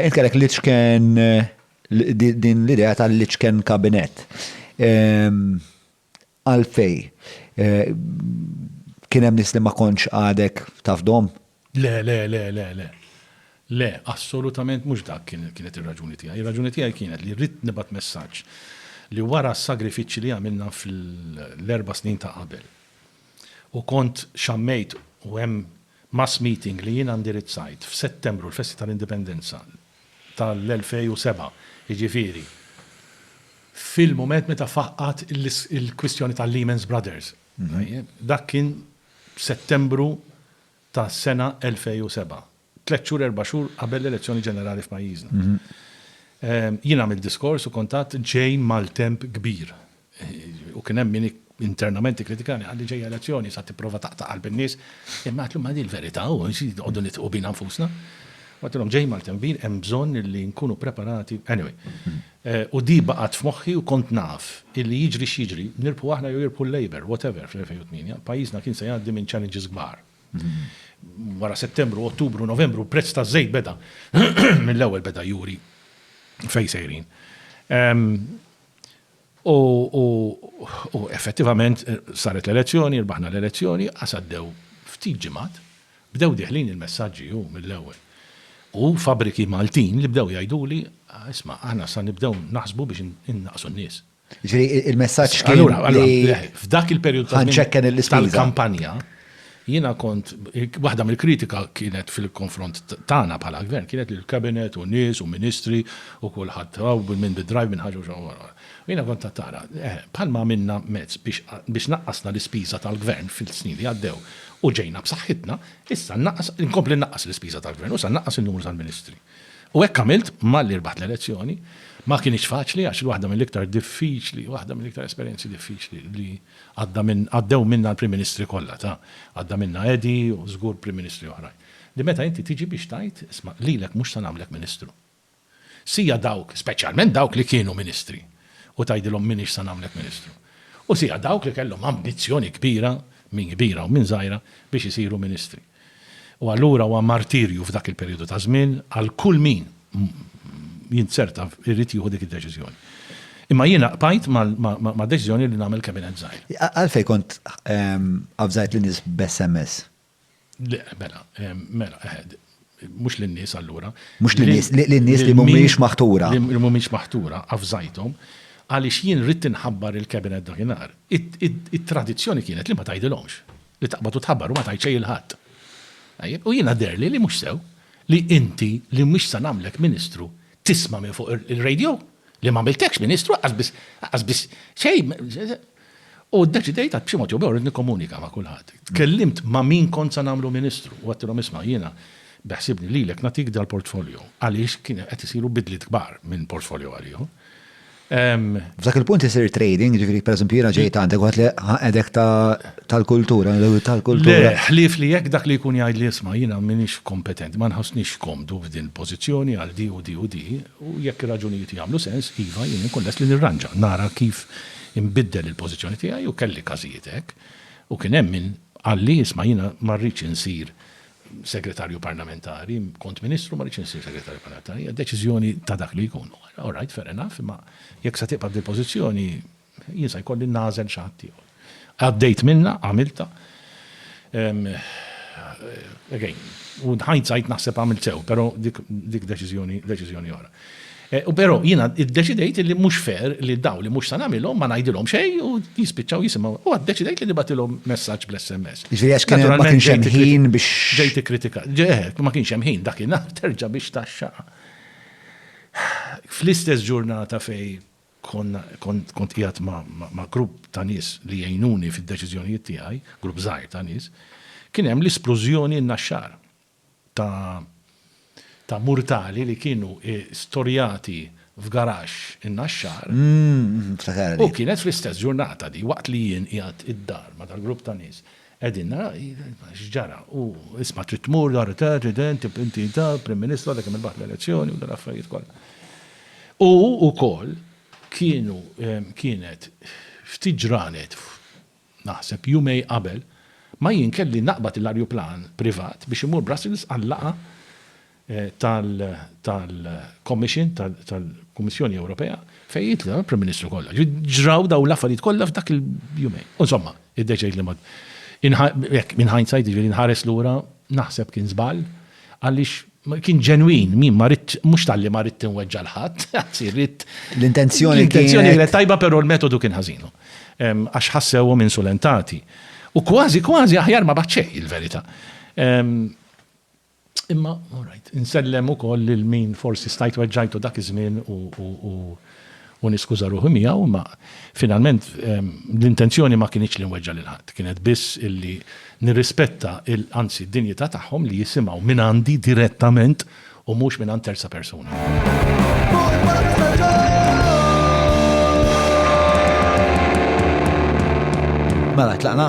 Qed kellek l-iċken din l-idea tal-iċken kabinett. Ehm, għalfej, eh, kien hemm nies li ma kontx għadek tafdhom? Le, le, le, le, le. Le, assolutament mhux dak kienet ir-raġuni tiegħi. Ir-raġuni tiegħi kienet li rrid nibgħat messaġġ li wara s-sagrifiċċji li għamilna fl-erba' snin ta' qabel u kont xammejt u hemm Mass meeting li jiena ndirizzajt f'Settembru l-festi tal-Indipendenza tal-2007, jiġifieri fil-mument meta faqqgħet il-kwistjoni tal-Lehman's Brothers. Tajjeb? Dak kien f'Settembru tas-sena 2007, tliet xhur erba' xhur qabel l-elezzjoni ġenerali f'pajjiżna. Jien għamilt diskors u kont għadt ġej maltemp kbir. U kien hemm min internament ikkritikani, qal li ġejja elezzjoni sa tipprova taqta' qalb in-nies. Imma għedtlhom ma di l-verità, u xi noqogħdu nidħqu bina nfusna. U għedtilhom ġej Maltenville hemm bżonn li nkunu preparati, anyway. U di baqgħet f'moħħi u kont naf illi jiġri x'jiġri, nirbħu aħna jew jirbħu l-Labour, whatever, fl-2008, pajjiżna kien se jgħaddi minn challenges kbar. Wara Settembru, Ottubru, Novembru, l-prezz taż-żejt beda mill-ewwel beda juri fejn sejrin. U effettivament saret l-elezzjoni, rbaħna l-elezzjoni, qas għaddew ftit ġimgħat, bdew dieħlin il-messaġġi hu mill-ewwel. U fabbriki Maltin li bdew jgħiduli, isma' aħna sa nibdew naħsbu biex innaqqsu n-nies. Jiġifieri l-messaġġ kien li. Allura, f'dak il-perjodu tal-kampanja. Jiena kont, waħda mill-kritika kienet fil-konfront tagħna bħala Gvern kienet li l-Cabinet u nies u Ministri u kulħadd hawn min bid-drive min ħaġa u xi ħaġa. U jiena kont għedt nara, eh, bħal ma għamilna mezz biex biex naqqasna l-ispiża tal-Gvern fis-snin li għaddew u ġejna b'saħħitna, issa nnaqqas, inkompli nnaqqas l-ispiża tal-Gvern u issa nnaqqas in-numru tal-Ministri. U hekk għamilt malli rbaħt l-elezzjoni. Ma kinitx faċli għax waħda mill-iktar diffiċli, waħda mill-iktar esperjenzi diffiċli li, Għadda minn, għaddew minnha l-Prim Ministri kollha ta', għadda minnha Edi u żgur Prim Ministri oħrajn. Li meta inti tiġi biex tgħid, isma', lilek mhux se nagħmlek Ministru. Sija dawk, speċjalment dawk li kienu Ministri, u tgħidilhom m'iniex se nagħmlek Ministru. U sija dawk li kellhom ambizzjoni kbira, minn kbira u minn żgħira, biex isiru Ministri. U allura huwa martirju f'dak il-perijodu ta' żmien għal kull min jinzerta jrid jieħu dik id-deċiżjoni. Imma jiena qbajt mad-deċiżjoni li nagħmel kabinett żgħir. Għalfejn kont avżajt lin-nies b'SMS? Le, mela, mela, eħe, mhux lin-nies allura. Mhux lin-nies, lin-nies li mhumiex maħtura. Li mhumiex maħtura, avżajthom, għaliex jien ridt inħabbar il-kabinett dakinhar. It-tradizzjoni kienet li ma tgħidilhomx. li taqbad u tħabbar u ma tajt xejn il ħadd. Tajjeb, u jiena deherli li mhux sew li inti li mhux se nagħmlek Ministru tisma' minn fuq ir-radio li m'għamiltekx Ministru aqqas biss aqqas biss xejn. U ddeċidejt għax b'xi mod jew b'ieħor rrid nikkomunika ma' kulħadd. Tkellimt ma' min kont se nagħmlu Ministru u għedtilhom isma' jiena beħsibni lilek nagħtik dal-portfolio għaliex kienu qed isiru bidliet kbar minn portfolio għal ieħor. F'dak il-punt isir trading, ġifiri, per eżempju, jena ġejt għandek għat li għedek tal-kultura, tal-kultura. Ħlif li jek dak li jkun jgħid li jisma jena minix kompetent, ma nħosnix komdu f'din pozizjoni għal di u di u di, u jekk raġunijiet jgħamlu sens, iva, jena nkun lest li nirranġa, nara kif imbiddel il-pozizjoni tijaj u kelli kazijiet ek, u kien hemm min għalli jisma jena marriċ insir Segretarju Parlamentari, kont Ministru, ma rridx insir Segretarju Parlamentari, hija deċiżjoni ta' dak li jkun. All right, fair enough, imma jekk se tibqa' f'dil-pożizzjoni, jien se jkolli nagħżel xi ħadd ieħor. Għaddejt minnha, għamiltha. Again, u in hindsight naħseb għamilt sew, però dik deċiżjoni oħra. U però jiena ddeċidejt li mhux fair li dawn li mhux se nagħmilhom ma ngħidilhom xejn u jispiċċaw jisimgħu. U għad ddeċidejt li nibgħatilhom messaġġ bl-SMS. Jiġifieri għax kien ma kienx hemm ħin biex. Ġejt ikkritikat. Ġeħ, ma kienx hemm ħin dakinhar terġa' biex tgħaxxaq. Fl-istess ġurnata fejn konna kont kont qiegħed ma' grupp ta' nies li jgħinuni fid-deċiżjonijiet tiegħi, grupp żgħir ta' nies, kien hemm l-isplużjoni n-Naxxar. ta' murtali li kienu storjati f'garaxx in-Naxxar. U kienet fl-istess ġurnata di, waqt li jien qiegħed id-dar ma' dal-grupp ta' nies. Qegħdin naraw x'ġara. U isma' trid tmur dar ta' ġident, inti ta' Prim Ministru għadek kemm irbaħt l-elezzjoni u dal-affarijiet kollha. U wkoll kienu kienet ftit ġranet Naħseb jumej qabel ma jien kelli naqbad l-arjuplan privat biex immur Brussels għal-laqgħa tal-Commission, tal-Kummissjoni Ewropea, fejn jitlgħu l-Prim Ministru kollha. Ġifieri ġraw dawn l-affarijiet kollha f'dak il-jumejn. U insomma, iddeċidejt li ma hekk, in hindsight, jiġifieri nħares lura, naħseb kien żball għaliex Kien ġenwin, min ma ridt, mhux talli ma ridt inweġġa' 'l ħadd, anzi ridt. L-intenzjoni kienet. L-intenzjoni kienet tajba però l-metodu kien ħażin. Għax ħassewhom insulentati. U kważi kważi aħjar ma bagħat xejn il-verità. Imma, all right, insellem ukoll lil min forsi stajt weġġajtu dak iż-żmien u u niskuża ruħi miegħu, imma finalment l-intenzjoni ma kinitx li nweġġa' lil ħadd, kienet biss illi nirrispetta il, anzi d-dinjità tagħhom li jisimgħu mingħandi direttament u mhux mingħand terza persuna. Mela, tlaqna?